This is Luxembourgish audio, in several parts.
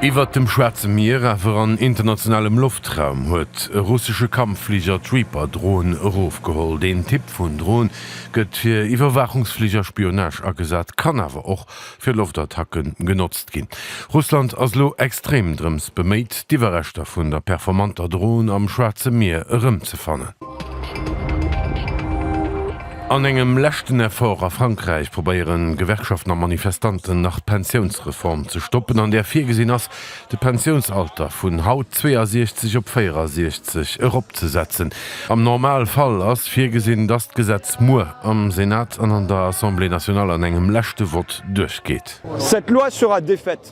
Iwwert dem Schwaarze Mier, awer an internationalem Loftraum, huet e russesche Kampffliger d'Reaper-Drohn erofgeholl. Deen Typ vun Drohn gëtt fir Iwwerwaachungsfliger, Spionage agesat, kann awer och fir Loftattacke genotzt ginn. Russland ass elo extrem drëms beméit, d'Iwwerreschter vun der performanter Drohn am Schwaarze Mier erëmzefannen. An engem leschten Effort a Frankräich probéiere Gewerkschaften a Manifestanten nach d'Pensiounsreform ze stoppen, an där virgesinn ass, de Pensiounsalter vun haut 62 op 64 eropzesetzen. Am Normalfall ass virgesinn, dass d'Gesetz muer am Senat an an der Assemblée nationale an engem leschte Vott duerchgeet. Cette loi sera défaite.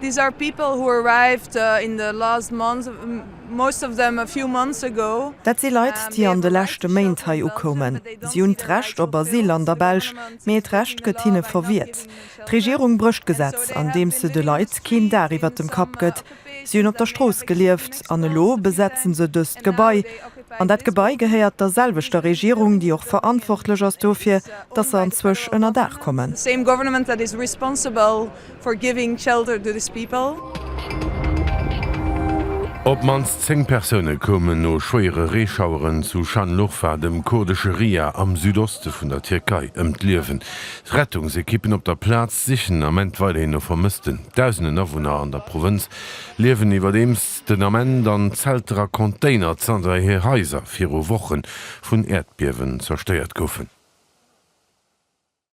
These are people who arrived in the last months, most of them a few months ago. Dat si Leit, déi an de leschte Méint hei ukoumen. Si hunn d'Recht op Asyl an der Belsch, mee et Recht gëtt hinne verwiert. D'Regierung brécht d'Gesetz, andeems se de Leit keen Daach iwwert dem Kapp gëtt. Si hunn op der Strooss gelieft an elo besetzen se dëst Gebai. An dat Gebai gehéiert der selwechter Regierung, déi och verantwortlech ass dofir, dass se anzwësch ënner Daach kommen. For giving shelter to this people. Op d'mannst 10 Persoune koumen no schwéiere Reeschaueren zu Schanlurfa, dem kurdesche Ria am Südoste vun der Tierkei, ëm d'Liewen. Rettungsekippen op der Plaz sichen ament weiderhin no Vermëssten. Dausenden Awunner an der Provënz liewen iwwerdeems den Ament an Zelter a Container, zanter hir Haiser viru Woche vun Äerdbiewen zerstéiert goufen.